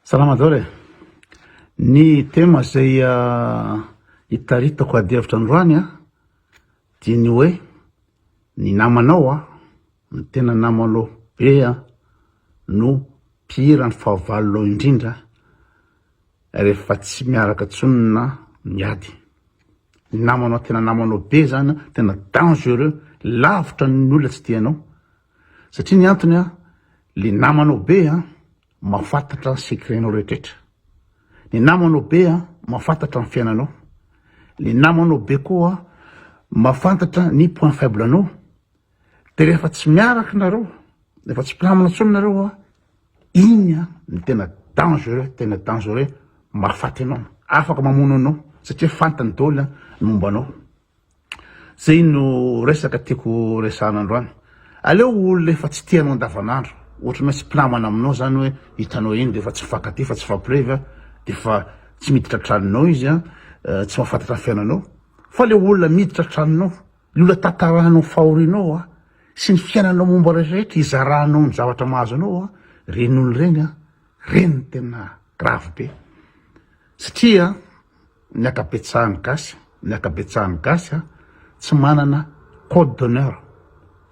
Salama daholo e! Ny tema izay itaritako adihevitra androany a, dia ny hoe ny namanao a, ny tena namanao be a, no mpihira ny fahavalonao indrindra rehefa tsy miaraka intsony na miady, ny namanao tena namanao be zany a, tena dangereux, lavitra ny olona tsy tianao. Satria ny antony an, le namanao be an, mafatatra ny secret-nao rehetra. Ny namanao be an, mafatatra ny fiainanao. Le namanao be koa an, mafantatra ny point faible nao. De rehefa tsy miaraka nareo, rehefa tsy mpinamana tsony nareo an, iny an, ny tena dangereux, tena dangereux, mahafaty anao, afaka mamono anao, satria fantany doly ny momba anao. Zay no resaka tiako resahana androany. Aleo olona efa tsy tianao andavanandro, ohatran'ny hoe tsy mpinamana aminao zany hoe hitanao eny dia efa tsy mifankatia fa tsy mifampirevy an, dia efa tsy miditra an-tranonao izy an, tsy mahafantatra ny fiainanao, fa le olona miditra an-tranonao, le olona tantaranao fahorianao an, sy ny fiainanao momba rehetrarehetra hizaranao ny zavatra mahazo anao an, reny olona reny an, reny no tena grave be, satria. Ny ankabetsahan'ny gasy, ny ankabetsahan'ny gasy a, tsy manana code d'honneur,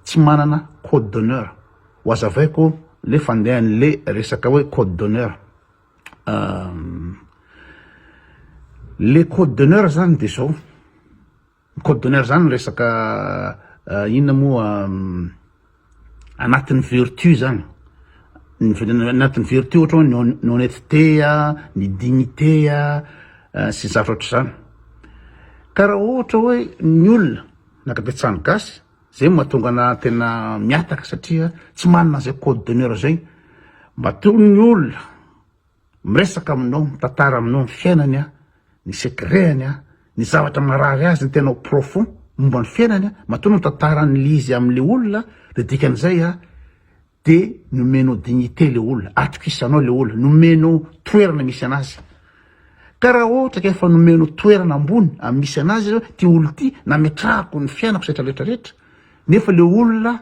tsy manana code d'honneur. Ho azavaiko le fandehan'le resaka hoe code d'honneur. Le code d'honneur zany de zao. Code d'honneur zany resaka inona moa anatin'ny vertu zany anatin'ny vertu ohatra hoe ny honnetete a, ny dignite a sy ny zavatra ohatr'izany ka raha ohatra hoe ny olona na kabetsahany gasy zay no mahatonga ana tena mihataka satria tsy manana an'izay code d'honneur zay matoa ny olona. Miresaka aminao, mitantara aminao ny fiainany aho, ny secret-ny aho, ny zavatra marary azy, ny tena au profond momba ny fiainany aho, matoa ny tantaran'ilay izy amin'ilay olona dia dikan'izay aho dia nomenao dignité ilay olona, atokisanao ilay olona, nomenao toerana misy anazy. Ka raha ohatra ka efa nomenao toerana ambony amin'ny misy anazy, ity olona ity, nametrahako ny fiainako sy rehetra rehetra rehetra, nefa ilay olona,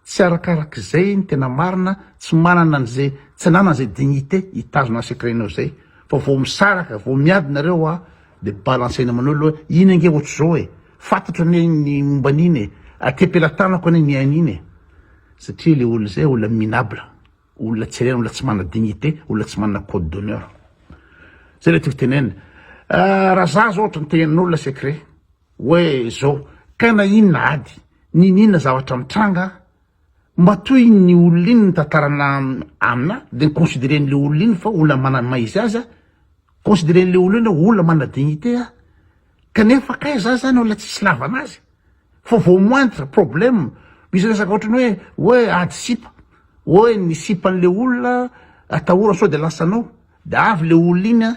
Tsy arakarak'izay ny tena marina, tsy manana an'izay, tsy ananana izay dignité hitazona ny secret-nao izay, fa vao misaraka, vao miady nareo a, dia balancer-na amanao aloha hoe iny ange ohatr'izao e, fantatro anie ny momba an'iny e, aty am-pelatanako anie ny hain'iny e, satria ilay olona izay olona minable, olona tsy ilaina, olona tsy manana dignité, olona tsy manana code d'honneur. Izay ilay tiako tenenina. Raha za zao ohatra ny tenenin'olona secret, Hoe zao, kay na inona ady, niniana zavatra mitranga aho, mba toy iny olona iny nitantarana aminà, dia ni-consideren'ilay olona iny fa olona manana ny maha izy azy aho, consideren'ilay olona iny hoe olona manana dignité aho, kanefa kay za zany olona tsisy ilavana azy, fa vao moindre problème, misy resaka ohatran'ny hoe, hoe ady sipa, hoe ny sipan'ilay olona atahorana sao dia lasanao, dia avy ilay olona iny an,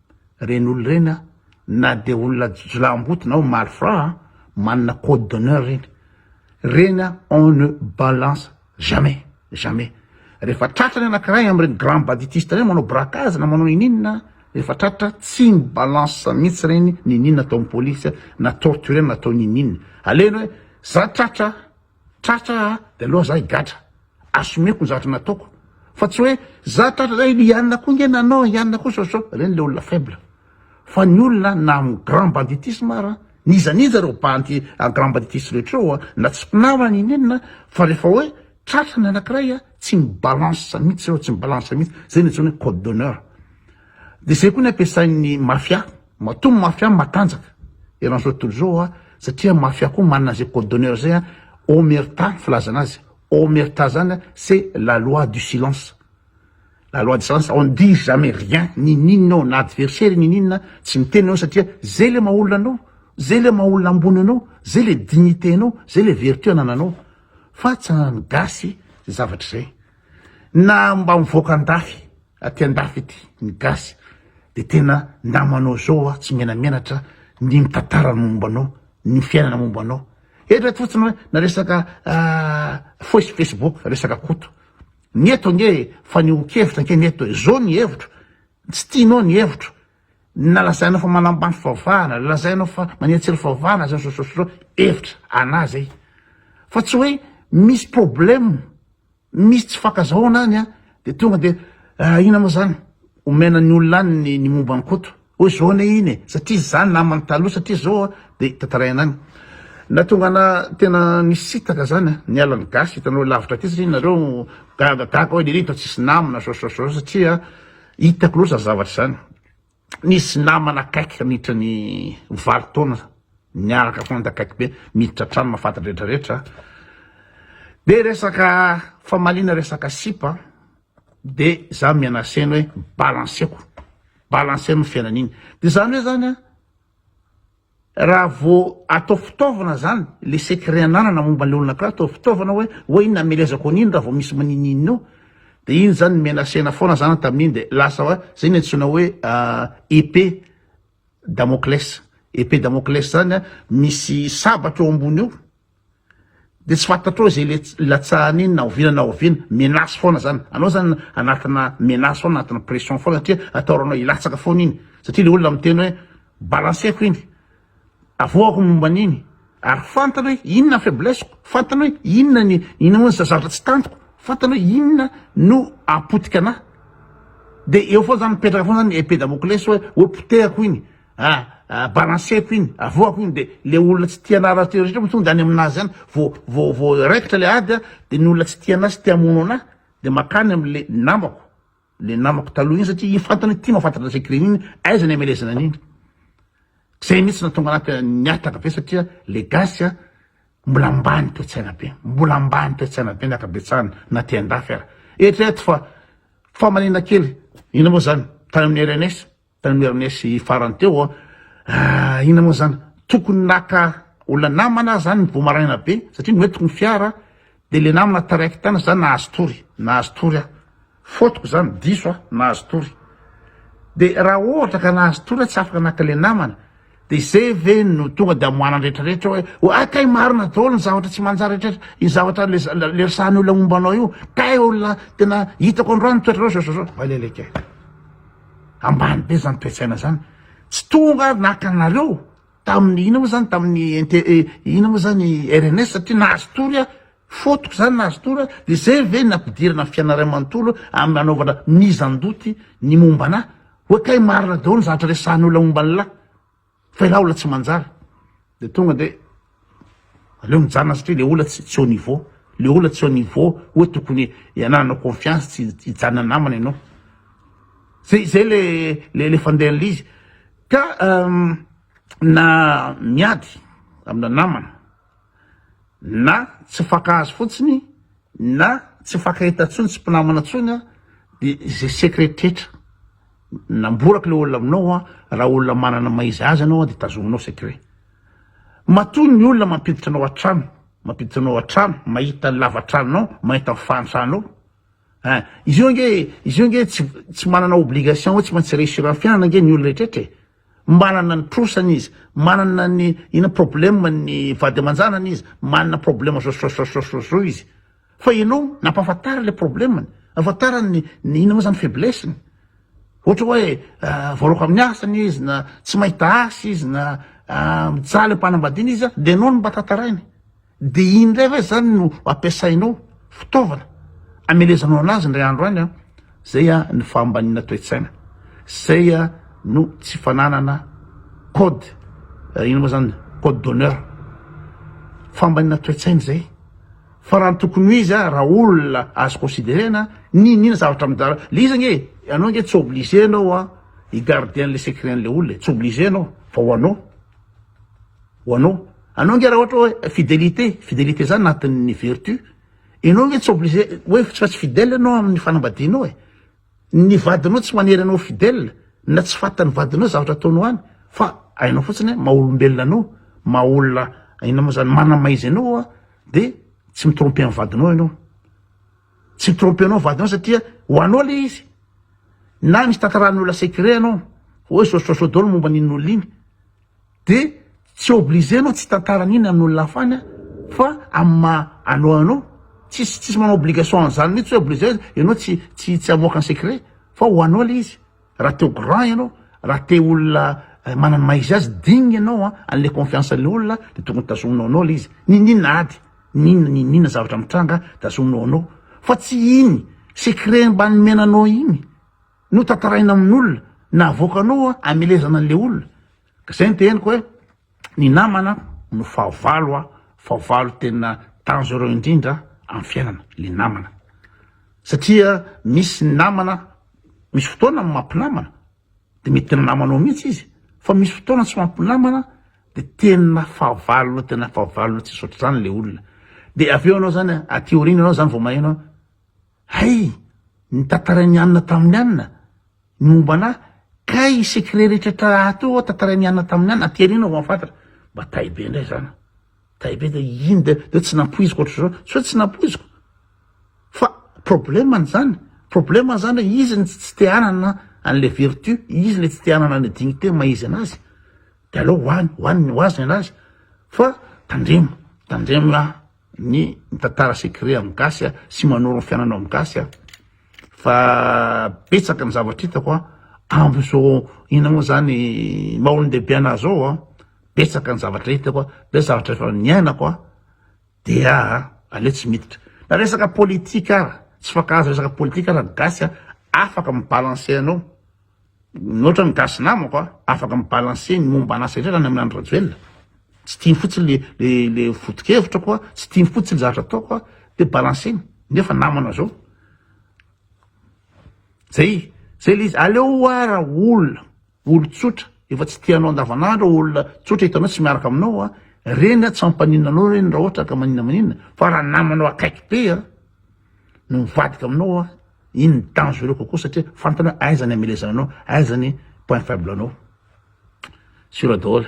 Reny olona reny a, na dia olona jolahimboto na malfrat a, manana code d'honneur reny. Reny a, on ne balance jamais, jamais. Rehefa tratra ny anakiray amin'ireny grand baditiste ireny manao braquage na manao niniana, rehefa tratra tsy mi balance mihitsy reny niniana ataon'ny police na torturer-na atao niniana. Alehany hoe za tratra, Tratra a, de aloha za higadra, assumeko ny zavatra nataoko, fa tsy hoe za tratra zay, i Anna koa nge nanao, i Anna koa so-so, reny le olona faible, fa ny olona na am grand banditisme ara, n'iza n'iza reo bandy an grand banditisme rehetra reo a, na tsy mpinama na in'inona, fa refa hoe tratra ny anakiray a, tsy mi-balance mihitsy reo, tsy mi-balance mihitsy, zay no antsoina hoe code d'honneur, de zay koa ny ampiasain'ny mafia. Matoa mafia matanjaka eran'izao tontolo izao a, satria mafia koa manana izay code d'honneur izay a, omerta filazana azy, omerta zany a c'est la loi du silence, la loi du silence, on ne dit jamais rien, ninininona ao na adversaire ninininona tsy miteny ianao satria zay le maha olona anao, zay le maha olona ambony anao, zay le dignité anao, zay le vertu anananao, fa tsy anan'ny gasy izay zavatra izay na mba mivoaka an-dafy Aty andafy ity ny gasy de tena namanao zao a tsy menamenatra ny mitantara ny momba anao ny fiainana momba anao eto fotsiny hoe na resaka foisy facebook resaka koto ny eto ange fa ny hokevitra ange ny eto e zao ny hevitro tsy tianao ny hevitro nalazainao fa manambany favahana lazainao fa manetsely favahana zao zao zao zao hevitra anah zay fa tsy hoe misy problème Misy tsy fankazahona any de tonga de ah, ina moa zany omena ny olona any ny, ny momba ny koto oy zao anie iny e satria izy zany namany taloha satria zao de tantaraina any na tonga na tena misitaka zany ny alan'ny gasy hitanao lavitra aty satria nareo gaga gaga hoe lery hitao tsisy namana zao zao zao satria hitako loatra ny zavatra izany Nisy namana akaiky handritra ny valo taona niaraka foana dia akaiky be miditra an-trano mahafantatra rehetra rehetra dia resaka famaliana resaka sipa dia za mianaseno hoe balanseko balanseno ny fiainana iny dia zany hoe zany a Raha vao atao fitaovana izany, ilay secret ananana momba an'ilay olona anankiray atao fitaovana hoe hoe iny namelezako an'iny raha vao misy manin'inona eo, dia iny izany nimenasena foana zany tamin'iny dia lasa hoe izay ny antsoina hoe épée damoclès, épée damoclès izany misy sabatra eo ambony eo, Dia tsy fantatrao izay le hilatsahany iny na oviana na oviana, menace foana zany, anao zany anatina menace foana, anatina pression foana satria ataoranao hilatsaka foana iny satria le olona miteny hoe balanceko iny, avoahako ny momba an'iny ary fantany hoe inona ny faiblesse-ko, fantany hoe inona ny inona moa ny zavatra tsy tantiko, fantany hoe inona no hahapotika anahy, dia eo foana zany mipetraka foana zany ny épée Damoclès hoe hoe potehako iny, Ah, ah, balanceko iny, avoako iny, de le olona tsy tia anarazy teo rehetra moa tonga any aminazy any, vo vo vo raikitra le ady a, de ny olona tsy tia anazy te hamono anah, de makany amle namako, le namako taloha iny satria iny fantany hoe ty mahafantatra anle crime iny, aiza ny amelezana an'iny, zay mihitsy natonga anah te niataka be satria le gasy a, mbola ambany toetsaina be, mbola ambany toetsaina be ny akabetsahany na te andafy ara, eritrereto fa famanina kely, ina moa zany, tany amin'ny rns, Tany Mernesy farany teo aho, ah inona moa izany, tokony naka olona namana aho izany ny voa maraina be satria noentiko ny fiara dia ilay namana taraiky tany ohatran'izany nahazo tory, nahazo tory aho, faute-ko izany, diso aho, nahazo tory. Dia raha ohatra ka nahazo tory aho tsy afaka naka ilay namana, Dia izay ve no tonga dia amoahana ny rehetrarehetra hoe oa kay marina daholo ny zavatra tsy manjary rehetrarehetra io zavatra le le resahan'ny olona momba anao io kay olona tena hitako androany toetrareo zao zao zao valele kay ambany be zany toe-tsaina zany tsy tonga ary naka anareo tamin'ny ina moa zany tamin'ny inte eh, ina moa zany RNS satria nahazo tory ah Fotoko zany nahazo tour de zay ve ny ampidirana fianarana manontolo amin'ny hanaovana mise en doute ny momba anah? Hoe kay marina daholo ny zavatra resahan'ny olona momba anlah fa ilah olona tsy manjary de tonga de aleo mijanona satria le olona tsy au niveau le olona tsy au niveau hoe tokony hanananao confiance tsy hijanona namana ianao zay zay le le le fandehan'le izy ka na miady amina namana na tsy fankahazo fotsiny na tsy fankahita tsony tsy mpinamana tsony a de ze secret rehetra namborako le olona aminao a raha olona manana maha izy azy anao a de tazominao secret matoa ny olona mampiditra anao an-trano mampiditra anao an-trano mahita ny lavatranonao mahita ny fahantranao a izy io ange izy io ange tsy tsy manana obligation hoe tsy maintsy réussir amin'ny fiainana ange ny olona rehetra e Manana ny trosany izy, manana ny ina problème ny vady aman-janany izy, manana problème zozozozozozozoo izy fa ianao nampahafantara ilay problème-ny, nampahafantara ny ny ina moa zany faiblesse-ny, ohatra hoe voaroaka amin'ny asany izy na tsy mahita asa izy na mijaly am-panambadiana izy dia ianao no mba tantaraina. Dia iny indray ve izany no ampiasainao, fitaovana, amelezanao an'azy indray andro any an? Izay ny fahambaniana toe-tsaina. Izay no tsy fananana code, inona moa izany, code d'honneur. Fahambaniana toe-tsaina izay. Fa raha ny tokony ho izy raha olona azo considerena, n'inon'inona zavatra amindra-, le izy ange, ianao ange tsy obligé ianao hi-garder an'ilay secret an'ilay olona e, tsy obligé ianao fa ho anao. ho anao anao nge raha ohatra hoe fidelité fidelité zany anatin'ny vertu ianao nge tsy obligé hoe fa tsy fidèle ianao amin'ny fanambadianao e ny vadinao tsy manery anao fidèle na tsy fatan'ny vadinao zavatra ataonao any fa ainao fotsiny hoe maolombelona anao maolona ina moa zany manamaizy anao a de tsy mitrompe amin'ny vadinao ianao tsy mitrompe anao vadinao satria ho anao le izy na misy tantaran'ny olona secret anao hoe sosososo dolo momba n'in'olona iny de tsy obligé anao tsy hitantara an'iny an'olona hafa any a, fa amin'ny maha anao anao, tsisy tsisy manao obligation an'zany mihitsy hoe obligé ianao tsy tsy tsy hamoaka ny secret fa ho anao le izy, raha te ho grand ianao, raha te olona manana ny maha izy azy, digne ianao an, an'le confiance an'le olona de tokony tazominao anao le izy, n'inon'inona ady, n'inona n'inon'inona zavatra mitranga tazominao anao, fa tsy iny secret mba nomena anao iny. notantaraina amin'olona na avoakanao amelezana an'le olona ka zay ny teheniko hoe ny namana no fahavalo a fahavalo tena dangereux indrindra amin'ny fiainana le namana satria misy ny namana misy fotoana ny mampinamana de mety tena namanao mihitsy izy fa misy fotoana tsy mampinamana de tena fahavalona tena fahavalona tsy sotra zany le olona de avy eo anao zany aty aoriana anao zany vao maheno Hay! Ny tantarain'i Anna tamin'i Anna, ny momba anà, kay i secret rehetra tra ato io ao tantarain'i Anna tamin'i Anna, aty aoriana vao hahafantatra. Mba tay be indray izany an! Tay be dia iny dia dia tsy nampoiziko ohatr'izao, tsy hoe tsy nampoiziko fa problème-ny izany, problème-ny izany hoe izy no tsy te hanana an'ilay vertu, izy ilay tsy te hanana an'ilay dignité maha izy an'azy, dia aleo ho any, ho any, ho azy ny an'azy fa tandremo, tandremo an! ny mitantara secret amin'ny gasy a, sy manoro ny fiainanao amin'ny gasy a, fa betsaka ny zavatra hitako a, amin'izao inona moa zany maha olon-dehibe anah zao a, betsaka ny zavatra hitako a, betsaka zavatra efa niainako a, dia aleo tsy miditra na resaka politique ara, tsy mifankahazo resaka politique ara ny gasy a, afaka mi-balancer anao. Mihoatra ny gasy namako a, afaka mi balancer ny momba an'asa indray zany amin'Andry Rajoelina, tsy tiany fotsiny le le le foto-kevitrako a, tsy tiany fotsiny zavatra ataoko a, de balancer-ny, nefa namana zao, zay zay le izy, aleo oa ra olona olon-tsotra efa tsy tianao andavan'andro a, olona tsotra hitanao tsy miaraka aminao a, reny a tsy ampaninona anao reny ra ohatra ka maninona maninona, fa ra namanao akaiky be a. no mivadika aminao a, iny ny dangereux kokoa satria fantany hoe aiza ny amelezana anao, aiza ny point faible anao, sur daholo.